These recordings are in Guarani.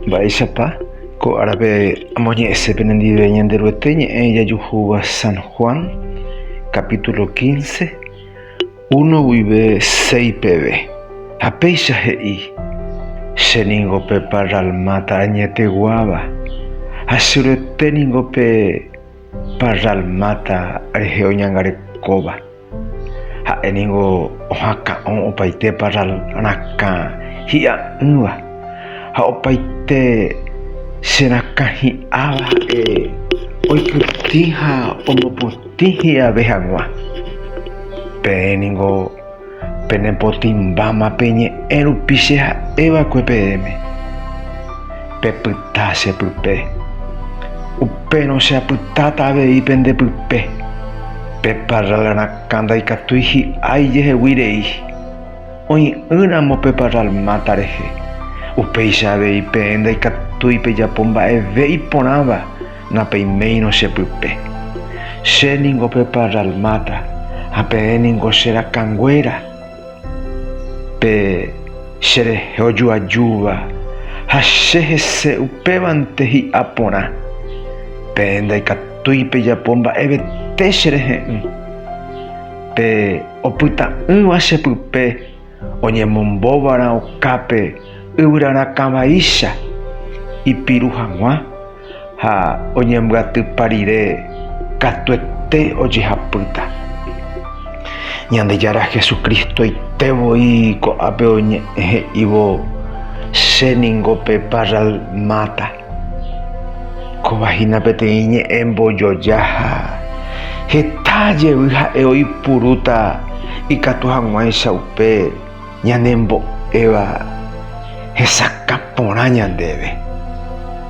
Mba'éichapa ko árape amoñe'ẽse penendive Ñanderuete ñe'ẽ ijajuhúva San Juan capítulo quince, uno guive seis peve, ha péicha he'i, Che ningo pe parra almáta añeteguáva, ha che Ruete ningo pe parra almáta rehe oñangarekóva. Ha'e ningo ohaka'õ opaite parral rakã hi'a'ỹva ha opaite che rakã hi'áva ha'e oipytĩ ha omopotĩ hi'ave hag̃ua. Peẽ ningo penepotĩmbáma pe ñe'ẽ rupi che ha'e va'ekue peẽme. Pepyta che pype. Upérõ che apytáta avei pende pype. Pe parral rakã ndaikatúi hi'ái jehegui rei. Oĩ'ỹ ramo pe parral máta rehe. Upéicha avei peẽ ndaikatúi pejapo mba'eve iporãva, napeiméirõ che pype. Che ningo pe parral máta ha peẽ ningo che rakãnguéra. Pe cherehe ojoajúva ha che hese upévante hi'a porã, peẽ ndaikatúi pejapo mba'evete cherehe'ỹ. Pe opyta'ỹva che pype oñemombóva'erã okápe yvyrarakãvaicha ipiru hag̃ua, ha oñembyatypa rire katuete ojehapýta. Ñandejára Jesucristoite voi ko'ápe oñe'ẽ he'ívo, Che ningo pe parral máta. Kóva hína peteĩ ñe'ẽ mbojoja ha heta jevy ha'e oipurúta ikatu hag̃uáicha upe. Ñanembo'éva hesakã porã ñandéve.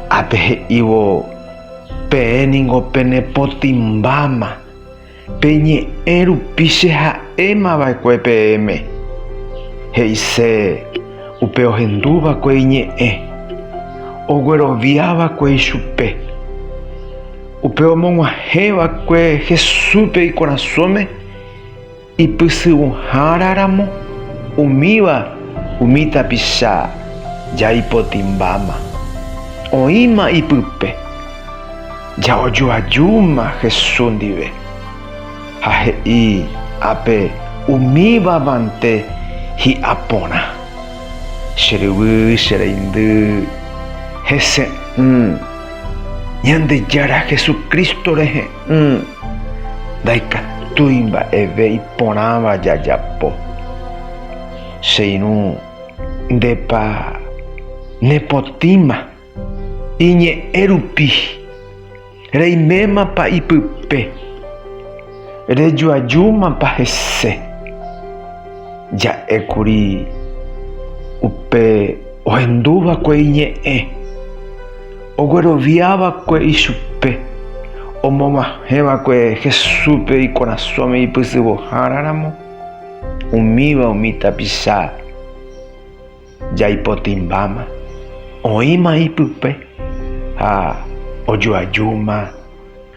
Ápe he'ívo, Peẽ ningo penepotĩmbáma, peñe'ẽ rupi che ha'éma va'ekue peẽme. He'ise upe ohendu va'ekue iñe'ẽ, oguerovia va'ekue ichupe. Upe omog̃uahẽ va'ekue Jesúspe ikorasõme. Ipysyvõhára ramo, umíva umi tapicha jaipotimbáma, oĩma ipype. Ja'ojoajúma Jesús ndive, ha he'i ápe umíva mante hi'a porã, Che ryvy, che reindy, hese'ỹ Ñandejára Jesucristo rehe. Ndaikatúi mba'eve iporãva jajapo. Che irũ, ndépa nepotĩma iñe'ẽ rupi? Reimémapa ipype? Rejoajúmapa hese? Ja'ékuri upe ohendúva'ekue iñe'ẽ. Oguerovia va'ekue ichupe, omoguahẽ va'ekue Jesúspe ikorasõme ipysyvõhára ramo, umíva umi tapicha jaipotymbáma, oĩma ipype ha ojoajúma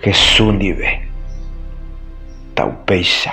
Jesús ndive. Ta'upéicha.